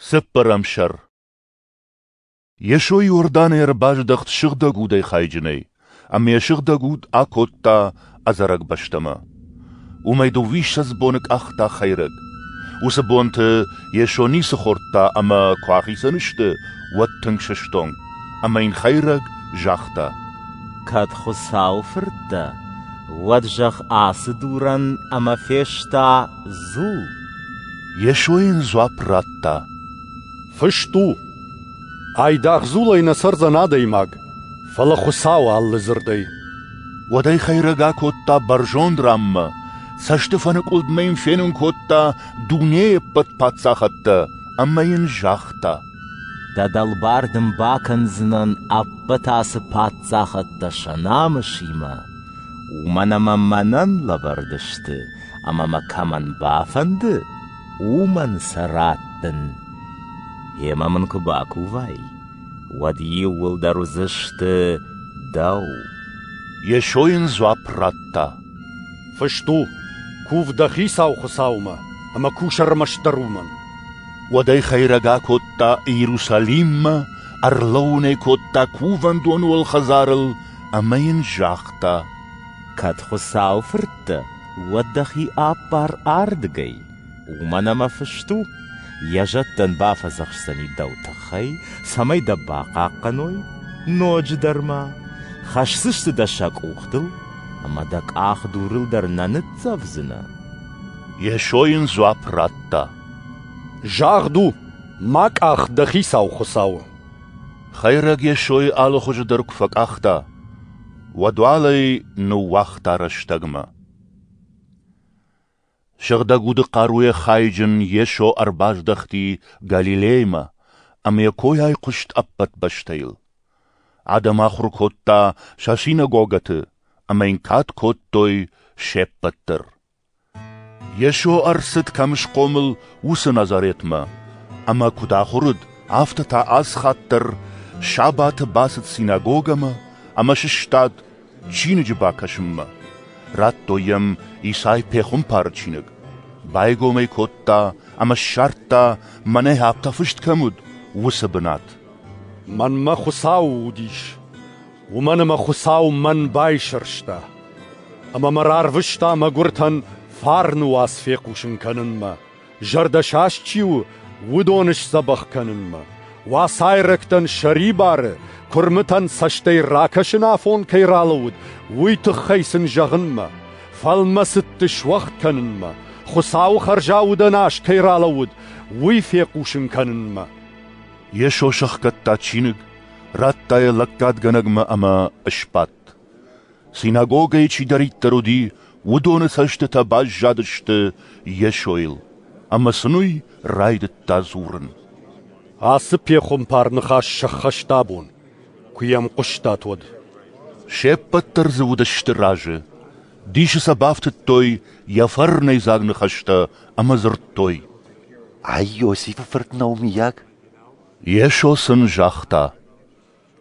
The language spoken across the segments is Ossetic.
Цыппӕрӕм сӕр Йесо Иорданы ӕрбаздӕхт сыгъдӕг удӕй хайджынӕй, ӕмӕ йӕ сыгъдӕг уд акодта ӕдзӕрӕг бӕстӕмӕ. Уымӕй дыууиссӕдз боны къахта хӕйрӕг. Уыцы бонты Йесо ницы хордта ӕмӕ куы ахицӕн сты, уӕд тынг сыстонг, ӕмӕ йын хӕйрӕг загъта: «Кӕд Хуыцау фырт дӕ, уӕд зӕгъ ацы дурӕн ӕмӕ фес та Дзу! Йесо йын дзуапп радта. Фыст у, айдагъ дзулӕй нӕ цӕрдзӕн адӕймаг, фӕлӕ Хуыцауы алы дзырдӕй. Уӕд ӕй хӕйрӕг акодта бӕрзонд ранмӕ, цӕстыфӕныкъуылдмӕ йын фенын кодта дунейы ӕппӕт паддзахадтӕ ӕмӕ йын загъта. Дӕ дӕлбар дын бакӕндзынӕн ӕппӕт ацы паддзахадтӕ сӕ намысимӕ, уымӕн ӕмӕ мӕнӕн лӕвӕрд сты Ӕмӕ мӕ кӕмӕн бафӕнды, уымӕн сӕ раттын. Йемӕ мын куы бакувай, уӕд иууылдӕр уыдзысты дӕу. Йесо йын дзуапп радта: «Фыст у: «Кув дӕ Хицау Хуыцаумӕ ӕмӕ кус ӕрмӕстдӕр уымӕн». Уӕд ӕй хӕйрӕг акодта Иерусалиммӕ, ӕрлӕууын ӕй кодта кувӕндоны уӕлхӕдзарыл ӕмӕ йын загъта: Кӕд Хуыцауы фырттӕ, уӕд дӕхи аппар ардыгӕй, уымӕн ӕмӕ фыст у, йӕ зӕдтӕн бафӕдзӕхсдзӕни дӕу тыххӕй, цӕмӕй дӕ бахъахъхъӕной ноджыдӕр ма, хӕсдзысты дӕ сӕ къухтыл, ӕмӕ дӕ къах дурыл дӕр нӕ ныццӕвдзынӕ. Йесо йын дзуапп радта. Загъд у, мӕ къах дӕ хицау Хуыцауы. Хӕйрӕг Йесойы алыхуызы дӕр куы фӕкъахта, Уодуӕлӕй ныууагъта рӕстӕгмӕ. Сыгъдӕг уды хъаруйӕ хайджын Йесо ӕрбаздӕхти Галилеймӕ ӕмӕ йӕ кой айхъуыст ӕппӕт бӕстӕйыл. Адӕм ахуыр кодта сӕ синагогӕты ӕмӕ йын кад кодтой се ппӕт дӕр. Йесо ӕрцыд кӕм схъомыл, уыцы Назаретмӕ, ӕмӕ куыд ахуыр уыд, афтӕ та аз хатт дӕр сабаты бацыд синагогӕмӕ ӕмӕ сыстад чиныджы бакӕсынмӕ. Радтой йӕм Исай пехуымпары чиныг. Байгом ӕй кодта ӕмӕ ссардта, мӕнӕ афтӕ фыст кӕм уыд, уыцы бынат. «Мӕнмӕ Хуыцау уыдис. Уымӕн ӕмӕ Хуыцау мӕн байсӕрста, ӕмӕ мӕ рарвыста мӕгуыртӕн фарны уац фехъусын кӕнынмӕ, зӕрдӕсаст чи у, уыдоны сдзӕбӕх кӕнынмӕ, уацайрӕгтӕн сӕрибары, куырмытӕн цӕстӕй ракӕсын афон кӕй ралӕууыд, уый тыххӕй сын зӕгъынмӕ, фӕлмӕцыдты суӕгъд кӕнынмӕ, Хуыцауы хӕрзаудӕн аз кӕй ралӕууыд, уый фехъусын кӕнынмӕ. Йесо сӕхгӕдта чиныг Радта йӕ лӕггадгӕнӕгмӕ ӕмӕ сбадт. Синагогӕйы чидӕриддӕр уыди, уыдоны цӕстытӕ баззадысты Йесойыл, ӕмӕ сын уый райдыдта дзурын. Ацы пехуымпар ныхас сӕххӕста абон, куы йӕм хъуыстат, уӕд. Се ппӕт дӕр дзы уыдысты разы. Дисы сӕ бафтыдтой йӕ фӕрнӕйдзаг ныхӕстӕ ӕмӕ дзырдтой. Ай Иосифы фырт Наумийаг? Йесо сын загъта,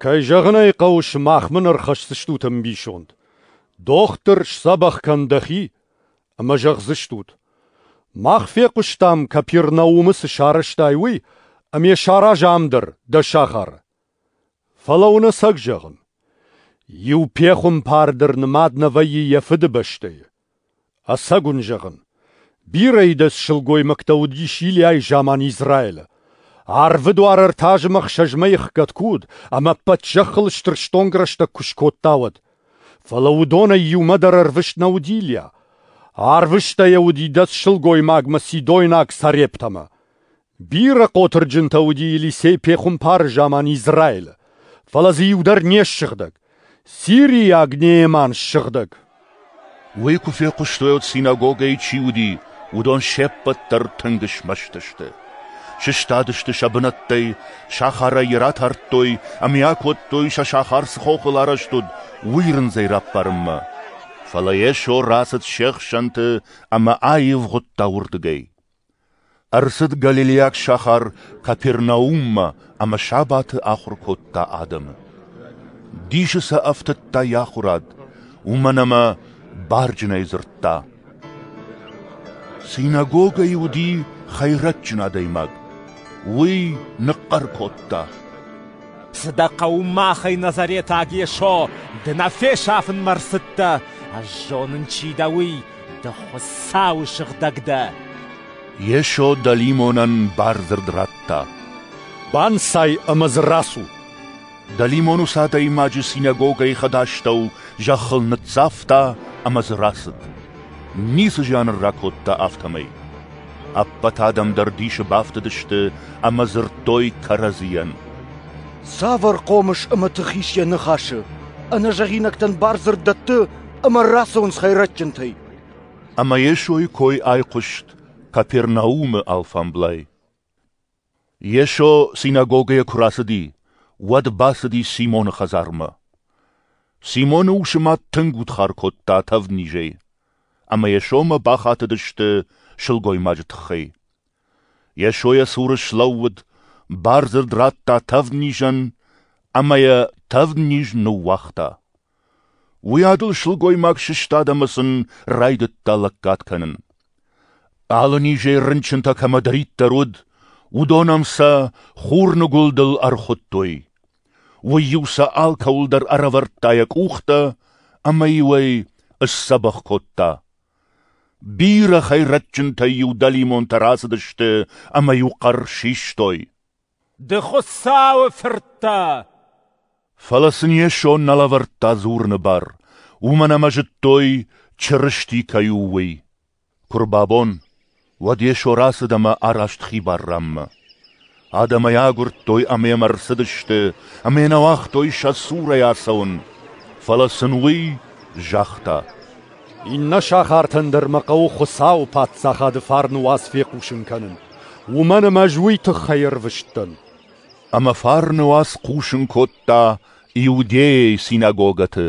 «Кӕй зӕгъын ӕй хъӕуы, сымах мын ӕрхӕсдзыстут ӕмбисонд. дохтыр сдзӕбӕх кӕн дӕхи ӕмӕ зӕгъдзыстут: Мах фехъуыстам, Капернаумы цы сарӕзтай, уый, ӕмӕ йӕ саразы ам дӕр, дӕ сахары. Фӕлӕ уынӕцӕг зӕгъын: иу пехуымпар дӕр нымад нӕ вӕййы йӕ фыдыбӕстӕйы. Ӕцӕг уын зӕгъын, бирӕ ӕдас сылгоймӕгтӕ уыдис Илиайы заман Израилы. Арвы дуары ӕртӕ азымы ӕхсӕзмӕ ихгӕд куы уыд, ӕмӕ ӕппӕт зӕххыл стыр стонг рӕстӕг куы скодта, уӕд. Фӕлӕ уыдонӕй иумӕ дӕр ӕрвыст нӕ уыд Илиа. Арвыста йӕ уыд ӕдас сылгоймагмӕ сидойнаг Сарептӕмӕ. Бирӕ хъотырджынтӕ уыди Елисей пехуымпары заман Израилы, фӕлӕ дзы иу дӕр не ссыгъдӕг, сирийаг Нееман ссыгъдӕг. Уый куы фехъуыстой, уӕд синагогӕйы чи уыди, уыдон се ппӕт дӕр тынг смӕсты сты. Сыстадысты сӕ бынӕттӕй, сахарӕй йӕ ратардтой ӕмӕ йӕ кодтой, сӕ сахар цы хохыл арӕзт уыд, уый рындзӕй раппарынмӕ. Фӕлӕ Йесо рацыд се хсӕнты ӕмӕ аивгъуыдта уырдыгӕй. Ӕрцыд галилейаг сахар Капернауммӕ ӕмӕ сабаты ахуыр кодта адӕмы. Дисы сӕ ӕфтыдта йӕ ахуырад, уымӕн ӕмӕ барджынӕй дзырдта. Синагогӕйы уыди хӕйрӕджджын адӕймаг. Уый ныхъхъӕр кодта. Цы дӕ хъӕуы махӕй, Назаретаг Йесо, ды нӕ фесафынмӕ рцыдтӕ, ӕз зонын, чи дӕ, уый, ды Хуыцауы сыгъдӕг дӕ. Йесо дӕлимонӕн бардзырд радта. «Банцай ӕмӕ дзы рацу!» Дӕлимон ус адӕймаджы синагогӕйы хӕдастӕу зӕххыл ныццавта ӕмӕ дзы рацыд. Ницы зиан ын ракодта афтӕмӕй. Ӕппӕт адӕм дӕр дисы бафтыдысты ӕмӕ дзырдтой кӕрӕдзийӕн. Цавӕр хъомыс ӕмӕ тыхис йӕ ныхасы? Ӕнӕзӕгъинӕгтӕн бардзырд дӕтты ӕмӕ рацӕуынц хӕйрӕджджынтӕй. Ӕмӕ Йесойы кой айхъуыст Капернаумы алфамблай. Йесо синагогӕйӕ куы рацыди, уӕд бацыди Симоны хӕдзармӕ. Симоны усы мӕт тынг удхар кодта тӕвднизӕй, ӕмӕ Йесомӕ бахатыдысты сылгоймаджы тыххӕй. Йесо йӕ цуры слӕууыд, бардзырд радта тӕвднизӕн, ӕмӕ йӕ тӕвдниз ныууагъта. Уыйадыл сылгоймаг сыстад ӕмӕ сын райдыдта лӕггад кӕнын. Алы низӕй рынчынтӕ кӕмӕдӕриддӕр уыд, уыдон ӕм сӕ хурныгуылдыл ӕрхуыдтой. Уый-иу сӕ алкӕуыл дӕр ӕрӕвӕрдта йӕ къухтӕ, ӕмӕ-иу ӕй ысдзӕбӕх кодта. Бирӕ хӕйрӕджджынтӕй-иу дӕлимонтӕ рацыдысты ӕмӕ-иу хъӕр систой. Ды Хуыцауы фырттӕ! Фӕлӕ сын Йесо нӕ лӕвӕрдта дзурыны бар, уымӕн ӕмӕ зыдтой, Чырысти кӕй у, уый. Куы рбабон, уӕд Йесо рацыд ӕмӕ араст хибар ранмӕ. Адӕм ӕй агуырдтой ӕмӕ йӕм ӕрцыдысты ӕмӕ нӕ уагътой сӕ цурӕй ацӕуын, фӕлӕ сын уый загъта: «Иннӕ сахартӕн дӕр мӕ хъӕуы Хуыцауы Паддзахады фарны уац фехъусын кӕнын. уымӕн ӕмӕ ӕз уый тыххӕй ӕрвыстӕн. Ӕмӕ Фарнуаз хъусын кодта Иудейӕйы синагогӕты.